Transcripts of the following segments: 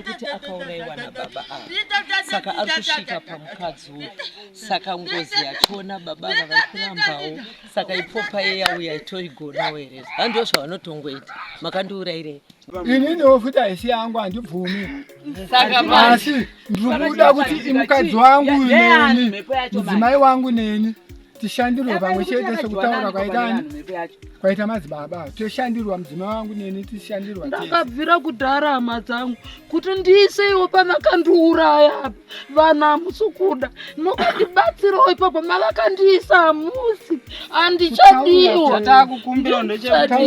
kuti akauraiwa nababa ava saka ari kusvika pamukadzi uyu saka ngozi yachona baba ava vari kurambawo saka ipopa yeyauya itoigonawo here handiwo zvavanotongoita makandiurairei ininiwo futi haisi yangu handibvumi asi ndiri kuda kuti imukadzi wangu neni mudzimai wangu neni tishandirwe pamwe chete sekutaura kwaitani kwaita madzibaba toshandirwa mudzima wangu neni tishandirwa ndakabvira kudhara hama dzangu kuti ndiise iwo pamakandiuraya apa vanhu hamusi kuda nokandibatsirawo ipapo mavakandiisa hamusi handichadiwa chatakukumbira ndechekuti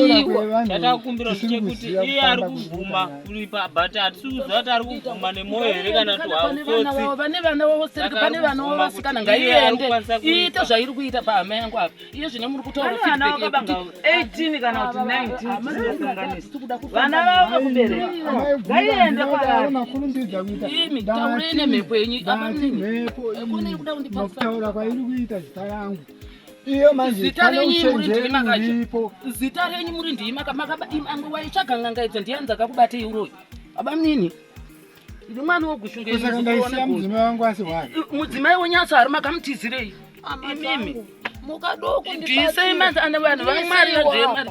iye ari kubvuma kuripa but hatisi kuziva kuti ari kubvuma nemwoyo here kana kuti hautsotsi vane vana vavo sereke pane vana vavo vasikana ngaiende iite zvairi kuita pahama yangu apa iye zvine muri kutaura feedback yekuti 18 kana kuti 19 vana vavo vekubereka ngaiende kwavari imi taurei nemhepo yenyu apa mimi kune iri kuda kundipasa kutaura kwairi kuita zita yangu Iyo manje zita renyu muri ndiri makacho. Zita renyu muri ndiri maka makaba imwe waitsvaga nganga idzo ndiye anza kakubate iuroyi. Baba mnini. Ndi mwana wogushunga izvo. Kusaka ndaisiya mudzimai wangu asi wani. Mudzimai wonyatsa ari makamutizirei. Amimi. Mukadoko ndipatire. Ndisei manzi ana vanhu vamwari vadzemari.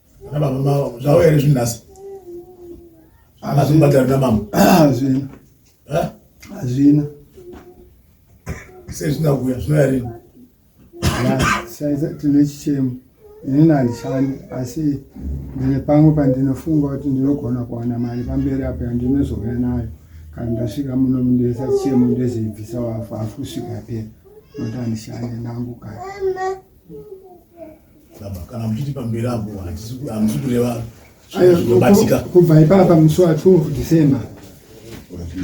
Ana baba mama zvauya here zvinhu nhasi? Ana zvimbatira na mama. Hazvina. Eh? Hazvina. Sei zvina kuya zvinoya rini? Saiza tine chichemo. Ini handishandi asi ndine pamwe pandinofunga kuti ndinogona kuwana mari pamberi apo yandinozouya nayo kana ndasvika muno mundoisa chichemo ndozibvisa wafu hafu kusvika pera nokuti handishandi ndangu kana Baba, kana muchiti pamberi apo hamusi kureva zvinobatika. Kubva ipapa musi wa 12 December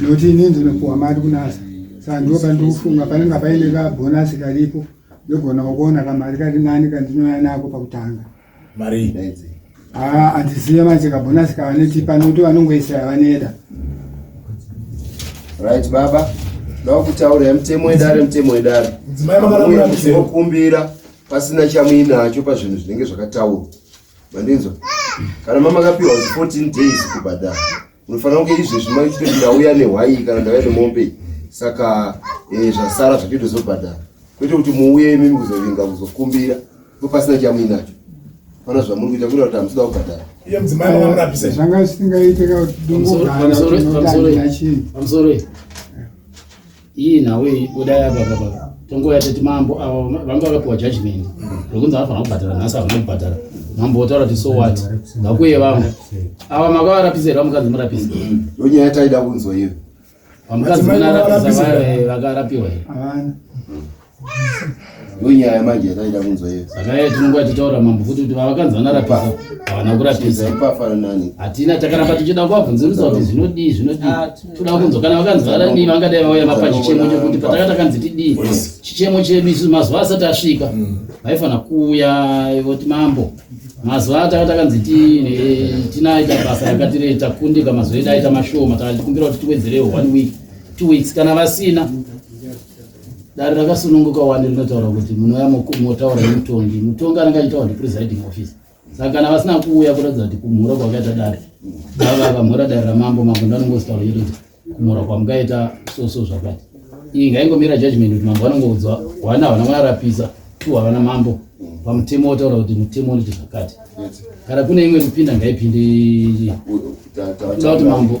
noti ini ndinopuwa mari kunasa saka ndipo pandikufunga panenge paine kabhonasi karipo ndogona kuona kamari kari nani kandinouya nako pakutanga mari haa handizive manje kabhonasi kavanoti panoti vanongoisa yavaneda right baba ndakutaura mutemo wedare mutemo wedare mudzimai makakumbira pasina chamuinacho pazvinhu zvinenge zvakataurwa mandinzwa kana mamakapiwa 14 days kubhadhara unofanira kunge izvezvi maitoti ndauya nehwai kana ndauya nemombe saka eh, zvasara zvatoitozobhadhara kwete kuti muuye imimi kuzovinga kuzokumbira ko pasina chamuinacho pana zvamuri kuita kuita kuti hamusida kubhadhara iye mudzimai vamurapisa zvanga zvisingaite kakuti dungogara tinotandira chii Iyi nhau iyi budai apa baba. Tongouya teti mambo ava vanga vakapiwa judgment rokunzi vanofanira kubhadhara nhasi havana kubhadhara. Mambo votaura kuti so what? Ngakuye vamwe. Ava makavarapisa here vamukadzi murapisa? Ndonyaya taida kunzwa iyo. Vamukadzi vanarapisa vaya vakarapiwa here? Havana. ndonyaya manje yataida kunzwa iyo saka iye tinonge achitaura mambo futi kuti vavakanzi vanarapisa havana kurapisa ipafanani hatina takaramba tichida kuvabvunzirisa kuti zvinodii zvinodii ah, toda kunzwa kana vakanzi varadii vangadai vauya vapa chichemo chekuti pataka takanzi tidii chichemo chedu isu mazuva asati asvika mm. vaifanira kuuya voti mambo mazuva ataka takanzi tinaita basa rakatire takundika mazuva edu aita mashoma takatikumbira kuti tiwedzerewo one week two weeks kana vasina Dare rakasununguka wani rinotaura kuti munouya motaura nemutongi. Mutongi anenge achitaura ndi presiding office. Saka kana vasina kuuya kuratidza kuti kumhura kwakaita dare. Baba vakamhura dare ramambo mambo ndanongostaura kuti kumhura kwamukaita so so zvakati. Iyi ngaingomira judgment kuti mambo vanongoudzwa wana havana kunarapisa tu havana mambo pamutemo wotaura kuti mutemo unoita zvakati. Kana kune imwe kupinda ngaipinde. Kuti mambo.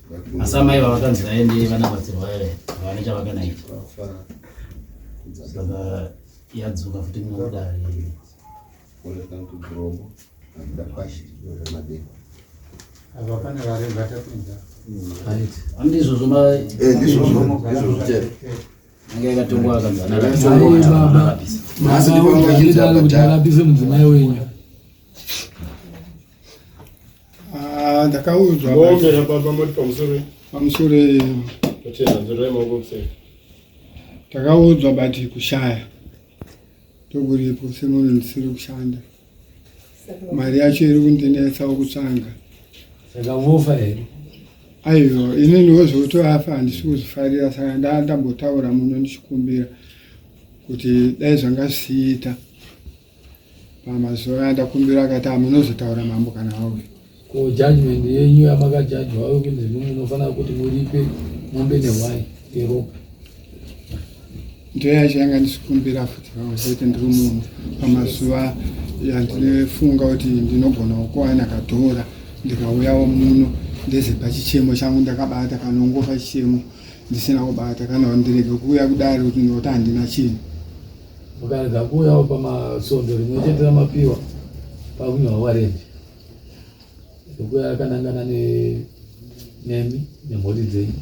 Asi amai ava vakanzi vaende vanabatsirwa here havane chavakanaita saka yadzoka futi kunokudari ava pane vari vatapinza handi izvozvo anga yakatongwa akanzanaaaabisa mudzimai wenyu Ah, ndakaudzwa mombe yababa moti pamusoro pamusoro takaudzwa but kushaya tokuripo semunhu ndisiri kushanda mari yacho iri kundinetsawo kutsvanga saka vofa here aiwa inini wozvotoafa handisi kuzvifarira saka ndaa ndambotaura muno ndichikumbira kuti dai zvanga zvichiita Pamazuva aya ndakumbira akati amunozotaura mambo kana auya. Ko judgment yenyu yamakajajwa auye kunzi mumwe unofanira kuti muripe mombe nehwai yeropa. Ndiyo yacho yanga ndisikumbira futi vamazoti ndiri munhu pamazuva yandinofunga kuti ndinogona kuwana katora ndikauyawo muno ndeze pachichemo changu ndakabata kanongofa chichemo ndisina kubata kana ndirege kuuya kudari kuti ndinoti handina chinhu Mukarega kuuyawo pamasvondo rimwe chete ramapiwa pakunyorwa warendi ekuya akanangana nemi nemhuri dzenyu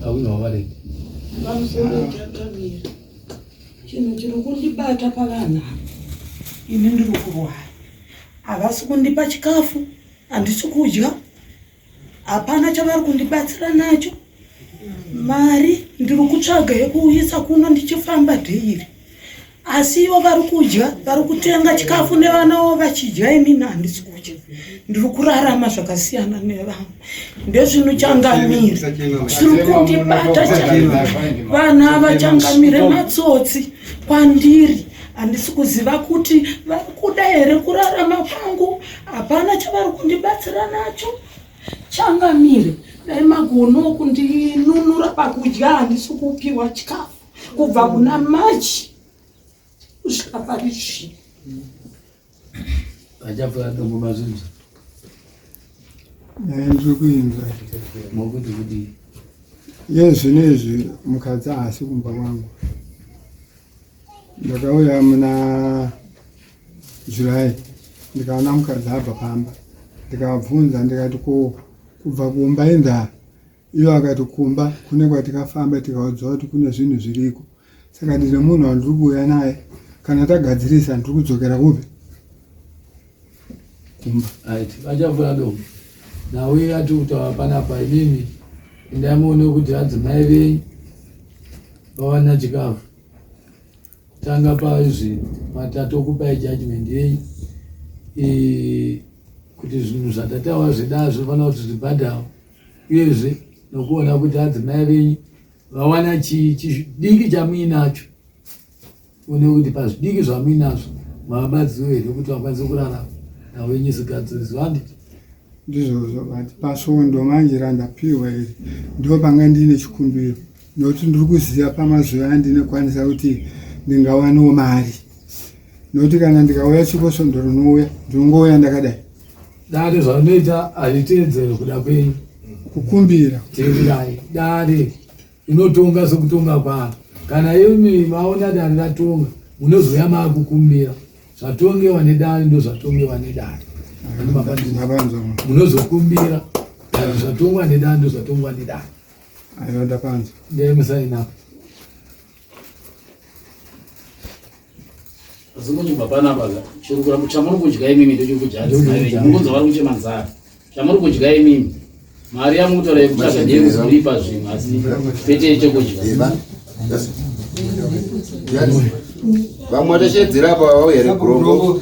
pakunyorwa warendi pamusoro takamira chinhu chiri kundibata pavanhu ava ini ndiri kurwara havasi kundipa chikafu handisi kudya hapana chavari kundibatsira nacho mari ndiri kutsvaga yekuuyisa kuno ndichifamba dheiri asi ivo vari kudya vari kutenga chikafu nevanawo vachidya imini handisi kudya ndiri kurarama zvakasiyana nevamwe ndezvino changamire chiri kundibata vanhu ava changamire matsotsi kwandiri handisi kuziva kuti vari kuda here kurarama kwangu hapana chavari kundibatsira nacho changamire dai magono kundinunura pakudya handisi kupiwa chikafu kubva kuna machi kusvika pari zvino achafa atombo mazvinzi eh, ndiri kuinza mokuti kuti ye zvino izvi mukadzi haasi kumba kwangu ndakauya muna July ndikaona mukadzi abva pamba ndikabvunza ndikati ko kubva kumba indaa iyo akati kumba kune kwatikafamba tikaudzwa kuti kune zvinhu zviriko saka ndine munhu wandiri kuuya naye kana tagadzirisa ndiri kudzokera kupi kumba achavuya do nawe ati kutaura panapa inini ndaimuone kuti adzimai venyu vawana chikafu Tanga paizvi matatu okupai judgment yei eh, kuti zvinhu zvatatawa zvedaa zvinofana kuti zvibhadhawo uyezve nokuona kuti adzimai venyu vawana chii chidiki chamuinacho one kuti pazvidiki zvamuinazvo mavabadziwo here kuti vakwanise kurara nawenyu zigadzirizwa handiti ndizvozvo but pasvondo manje randapiwa iri ndo panga ndiine chikumbiro nokuti ndiri kuziva pamazuva andinokwanisa kuti ndingawaniwo mari nokuti kana ndikauya chiko svondo rinouya ndinongouya ndakadai dare zvaunoita hazviteedzere kuda kwenyu kukumbira teererai dare inotonga sokutonga kwaro kana imi maona dare ratonga munozouya maakukumbira zvatongewa nedare ndo zvatongewa nedare munozokumbira zvatongwa nedare ndo zvatongwa nedare Aiwa ndapanzwa. Ndiye musaina. Zimwe mapana baga. Chiri kuramba chamuri kudya imimi ndocho kudya. Mungonza vari kuchema nzara. Chamuri kudya imimi. Mari yamutora yekutsvaga ndiye kuzoripa zvimwe asi pete chekudya. Vamwe vachedzera apa vauya regrombo.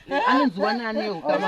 anonziwa nani hukama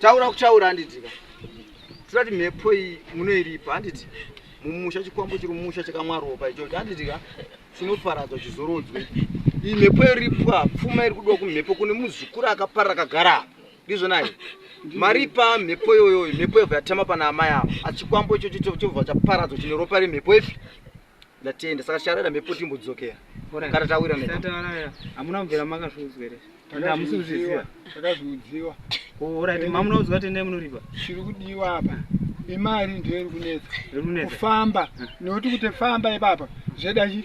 taura kutaura handitika tirati mhepo iyi munoiripa handiti mumusha chikwambo chiri mumusha chakamwaropa ichocho handitika chinoparadzwa chizorodzwe iyi mhepo yoripwa pfuma iri kudiwa kumhepo kune muzukuru akaparira akagara apa ndizvo nai mari pa mhepo iyoyoyo mhepo yobva yatema pana amai avo achikwambo ichocho chobva chaparadzwa chine ropa remhepo ipi ndatenda saka charaira mhepo timbodzokera kana tawira hamuna kubvira makazviudzwa here hamusi kuzviziva takazviudziwa orit oh, mamuna udzwa tendai munoripa chiri kudiwa apa imari ndiyo iri kunetsa kufamba nekuti kuti famba ipapa zveda chii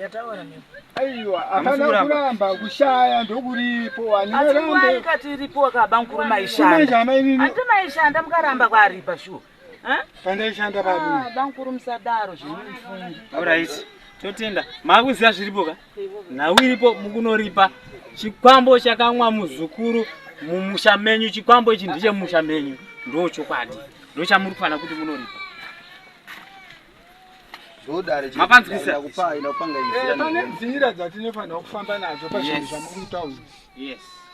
yataura nemi aiwa hapana kuramba kushaya ndokuripo waniaikati iripo wakaba mukuru maishandaati maishanda mukaramba kwaripa shuwa pandaishanda pabamukuru ah, musadaro zvemufungi orit totenda maakuziva zviripo ka nhau iripo mukunoripa chikwambo chakamwa muzukuru mumusha menyu chikwambo ichi ndechemumusha menyu ndochokwadi ndochamuri kufanira kuti munoripa mapanzwisa eh, pane nzira dzatinofanira kufamba nadzo pazvinhu zvamuri kutaura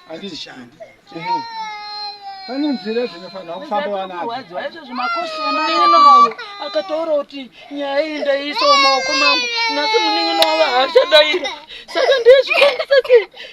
handishandi pane nzira dzinofanira kufamba vanamunin'ina wavo akataura kuti nyaya iyi ndaiisa mumaoko mangu nhasi munin'ina wavo haachadaira saka ndezvikosa sei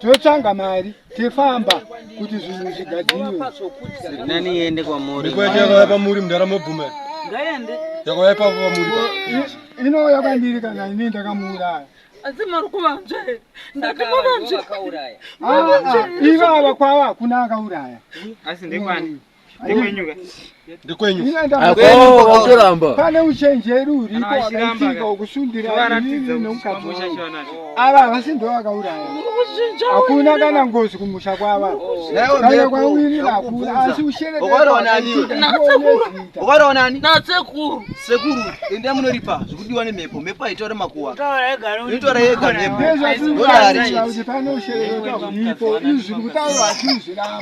totsvanga mari tefamba kuti zvinhu zvigadziriwenani yende kwamuriaaa pamuri mudara mobvuma yakauya ipapo pamuri inouya kwandiri kana ini ndakamuuraya asi mari kuvanzve ndakamuvanzve ivava kwava hakuna akauraya asi ndekwani ndikwenyuatoramba pane uchenjeri uripo wakaitika wokusundira inini nemukazi ava havasi ndo vakauraya hakuna kana ngozi kumusha kwava kana kwauini vakura asi ushereukaraonaniatsekuru sekuru ende munoripa zvikudiwa nemhepo mhepo haitaure makuwa inotaura yega mhepo ndezvatiuakuti pane usherero uripo izvi kutaura vachizviramba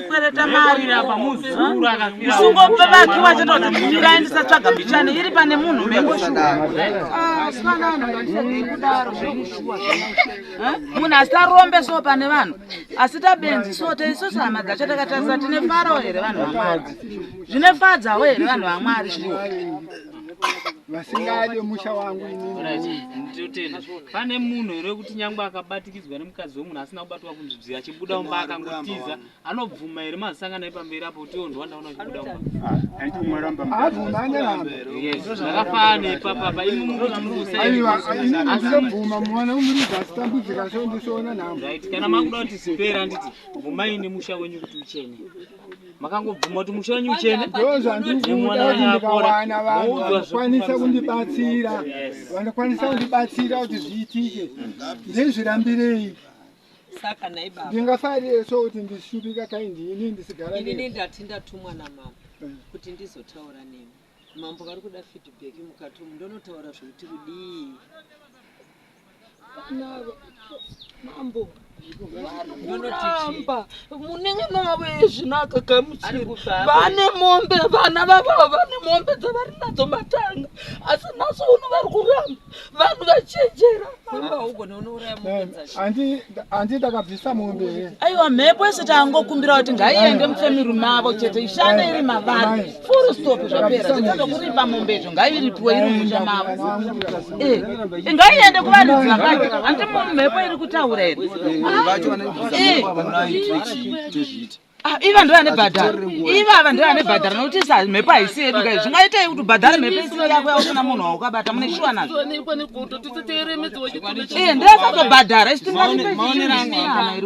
kwereta mari apa muzukuru akafira usungopa vake wachata kuti mumira ndisatsvaga mbichane iri pane munhu munhu asarombe so pane vanhu asi tabenzi so taisosi hama dzacho takatarisa tine farawo here vanhu vamwari zvinefadzawo here vanhu vamwari shuwa vasingade musha wangu pane munhu here kuti nyangwe akabatikidzwa nemukadzi wemunhu asina kubatwa kunzvibzi achibuda umba akangotiza anobvuma here mazisangana epamberi apo kuti ondwa ndaona achibuda umbazvakafanana nepapapa imi mukusaaiwaainobvuma mwana umuriza asitambudzika so ndisoona nhamo kana makuda kuti zipera anditi bvumai nemusha wenyu kuti uchene makangobvuma kuti musha wenyu uchene ndozvandikuda kuti ndikawana vanhu vanokwanisa kundibatsira vanokwanisa kundibatsira kuti zviitike ndizvirambirei ndingafarire so kuti ndishupika kaindini ndisigara ini ndati ndatumwa namama eh. kuti ndizotaura nemi Mambo vari kuda feedback mukati umu ndonotaura zvekuti kudii navo mambo varikuramba munenge navo ezvinaka gamuchiri vane mombe vana vavavo vane mombe dzavari nadzo matanga asi nhasi uno vari kuramba vanhu vachenjera handi ndakabvisa mombe here aiwa mhepo yese tangokumbira kuti ngaiende mufemiri mavo chete ishande iri mavari furu stop zvapera zvichazokuripa mombe izvo ngairipiwe iri musha mavo eh, eh, ngaiende kuvanhu dzakati handi mhepo iri kutaura here Ah, iva ndiyo ane bhadhara ivava ndiyo ane bhadhara nokuti sa mhepo haisi yedu kai zvingaitei kuti ubhadhare mhepo isiri yako yausina munhu waukabata mune shuwa nazvo ee eh, ndiyasazobhadhara isu tingaaiairi